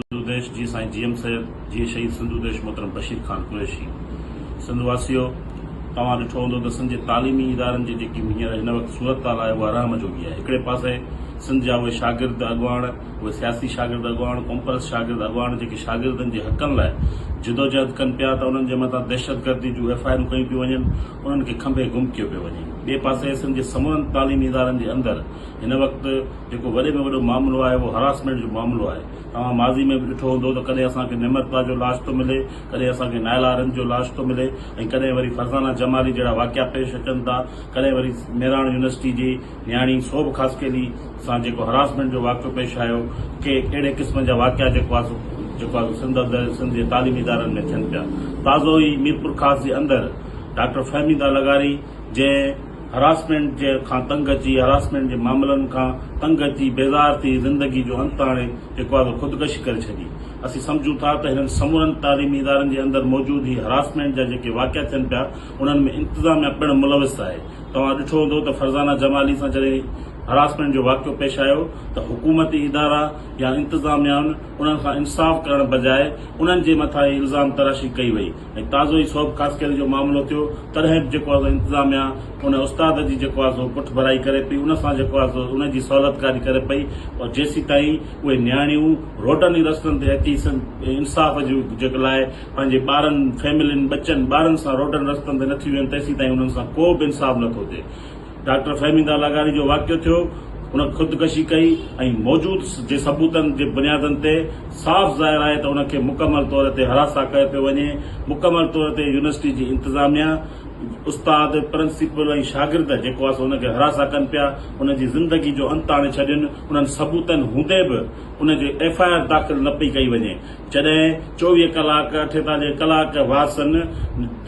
سنڌو ديش جي سائين G M Syed جي شهيد سنڌو ديش محترم بشير خان قريشي سنڌ واسيو توهان ڏٺو هوندو ته سنڌ جي تعليمي ادارن جي جيڪي هينئر هن وقت صورتحال آهي اها رحم جوڳي آهي هڪڙي پاسي سنڌ جا اهي شاگرد اڳواڻ اهي سياسي شاگرد اڳواڻ قومپرست شاگرد اڳواڻ جيڪي شاگردن جي حقن لاء جدوجهد ڪن پيا ته انهن جي مٿان دهشتگردي جون ايف آء آرون ڪيون پيون وڃن انهن کي کنڀي گم ڪيو پيو وڃي ٻئي پاسي سنڌ جي سمورن تعليمي ادارن جي اندر هن وقت جيڪو وڏي ۾ وڏو معاملو آهي اهو هراسمينٽ جو معاملو آهي، توهان ماضي ۾ به ڏٺو هوندو ته ڪڏهن اسان کي نمرتا جو لاش ٿو ملي، ڪڏهن اسان کي نائلا آرنج جو لاش ٿو ملي ۽ ڪڏهن وري فرزانه جمالي جهڙا واقعا پيش اچن ٿا، ڪڏهن وري ميراڻ يونيورسٽي جي نياڻي سوڀ خاصخيلي سان جيڪو هراسمينٽ جو واقعو پيش آيو، ڪي اهڙي قسم جا واقعا جيڪو آهي سو جيڪو آهي سو سنڌ اندر سنڌ جي تعليمي ادارن ۾ ٿين پيا، تازو ئي ميرپورخاص جي اندر ڊاڪٽر فهميده لغاري. جنهن هراسمينٽ جي کان تنگ اچي هراسمينٽ جي معاملن کان تنگ اچي بيزار ٿي زندگي جو انت آڻي اقبال خودڪشي ڪري ڇڏي اسين سمجهون ٿا ته هنن سمورن تعليمي ادارن جي اندر موجود هي هراسمينٽ جا جيڪي واقعا ٿين پيا انهن ۾ انتظاميا پڻ ملوث آهي توهان ڏٺو هوندو ته فرزانه جمالي سان جڏهن هراسمينٽ جو واقعو پيش آيو ته حڪومتي ادارا يا انتظاميائن انهن کان انصاف ڪرڻ بجاء انهن جي مٿان ئي الزام تراشي ڪئي وئي. ۽ تازو ئي صوب خاصخيلي جو معاملو ٿيو تڏهن به جيڪو آهي سو انتظاميا ان استاد جي جيڪو آهي سو پٺڀرائي ڪري پئي ان سان جيڪو آهي سو ان جي سهولتڪاري ڪري پئي ۽ جيسيتائين اهي نياڻيون روڊن ۽ رستن تي اچي انصاف جي جيڪ لاء پنهنجي ٻارن فيملين ٻچن ٻارن سان روڊن رستن تي نٿي ويهن تيسيتائين انهن سان ڪو به انصاف نٿو ٿئي ڊاڪٽر فهمي دا لاغاري جو واقعو ٿيو، ان خودڪشي ڪئي ۽ موجود جي ثبوتن جي بنيادن تي صاف ظاهر آهي ته ان کي مڪمل طور تي حراسان ڪيو پيو وڃي، مڪمل طور تي يونيورسٽي جي انتظاميا، استاد، پرنسپل ۽ شاگرد جيڪو آهي سو ان کي حراسان ڪن پيا، ان جي زندگي جو انت آڻي ڇڏين، انهن ثبوتن هوندي به ان جي ايف آء آر داخل نه پئي ڪئي وڃي، جڏهن چوويهه ڪلاڪ ٺيتا جي ڪلاڪ وارثن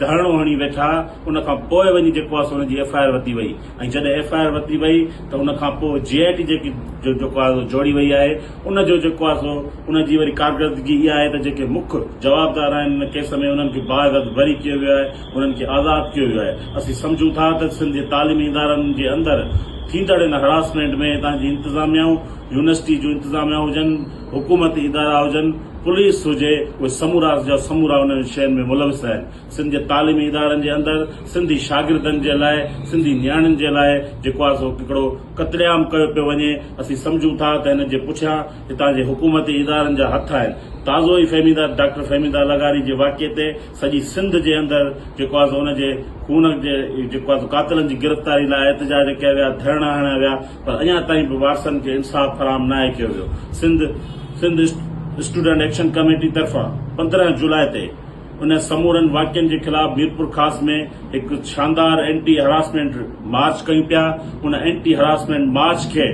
ڌرڻو هڻي ويٺا ان کان پوء وڃي جيڪو آهي سو ان جي ايف آء آر ورتي وئي ۽ جڏهن ايف آء آر ورتي وئي ته ان کان پوء جي آء ٽي جيڪي جو جيڪو آهي سو جوڙي وئي آهي ان جو جيڪو آهي سو ان جي وري ڪارڪردگي اها آهي ته جيڪي مک جوابدار آهن ان ڪيس ۾ انهن کي باعزت بري ڪيو ويو آهي انهن کي آزاد ڪيو ويو آهي اسين سمجهون ٿا ته سنڌ جي تعليمي ادارن جي اندر ٿيندڙ ان هراسمينٽ ۾ هتان جي انتظاميائون يونيورسٽي جون انتظاميائون هجن حڪومتي ادارا هجن، پوليس هجي، اهي سمورا جا سمورا انهن شين ۾ ملوث آهن. سنڌ جي تعليمي ادارن جي اندر سنڌي شاگردن جي لاء، سنڌي نياڻين جي لاء جيڪو آهي سو هڪڙو قتل عام ڪيو پيو وڃي. اسين سمجهون ٿا ته ان جي پٺيان هتان جي حڪومتي ادارن جا هٿ آهن. تازو ئي فهميده ڊاڪٽر فهميده لغاري جي واقعي تي سڄي سنڌ جي اندر جيڪو آهي سو ان جي خون جي جيڪو آهي سو قاتلن جي گرفتاري لاء احتجاج ڪيا ويا، ڌرڻا هڻيا ويا. پر اڃا تائين به وارثن کي انصاف فراهم ناهي ڪيو ويو Sindh Sindh student action committee طرفان پندرهن جولاء تي ان سمورن واقعن جي خلاف ميرپورخاص ۾ هڪ شاندار اينٽي هراسمينٽ مارچ ڪيون پيا ان اينٽي هراسمينٽ مارچ کي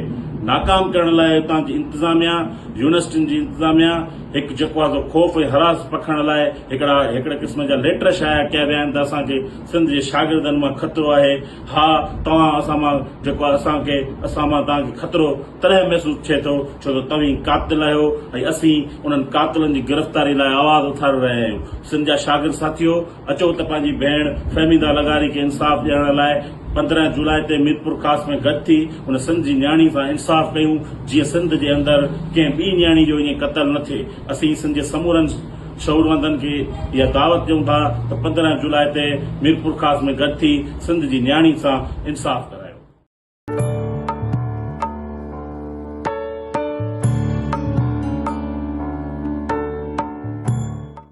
ناڪام ڪرڻ لاء اتان جي انتظاميا يونيورسٽين جي انتظاميا هڪ جيڪو آهي خوف ۽ هراس پکڻ لاء هڪڙا هڪڙي قسم جا ليٽر شايع ڪيا ويا آهن ته اسان کي سنڌ جي شاگردن مان خطرو آهي ها توهان اسان مان جيڪو آهي اسان کي اسان مان توهان کي خطرو تڏهن محسوس ٿئي ٿو ڇو ته توهين قاتل آهيو ۽ اسين انهن قاتلن جي گرفتاري لاء آواز اٿاري رهيا آهيون سنڌ جا شاگرد ساٿيو اچو ته پنهنجي ڀيڻ فهميده لغاري کي انصاف ڏيارڻ لاء پندرهن جولاء تي ميرپورخاص ۾ گڏ ٿي ان سنڌ جي نياڻي سان انصاف ڪيون جيئن سنڌ جي اندر ڪنهن ٻي نياڻي جو ائين قتل نه ٿئي اسين سنڌ جي سمورن شعوروندن کي اها دعوت ڏيون ٿا ته پندرهن جولاء تي ميرپورخاص ۾ گڏ ٿي سنڌ جي نياڻين سان انصاف ڪرايو.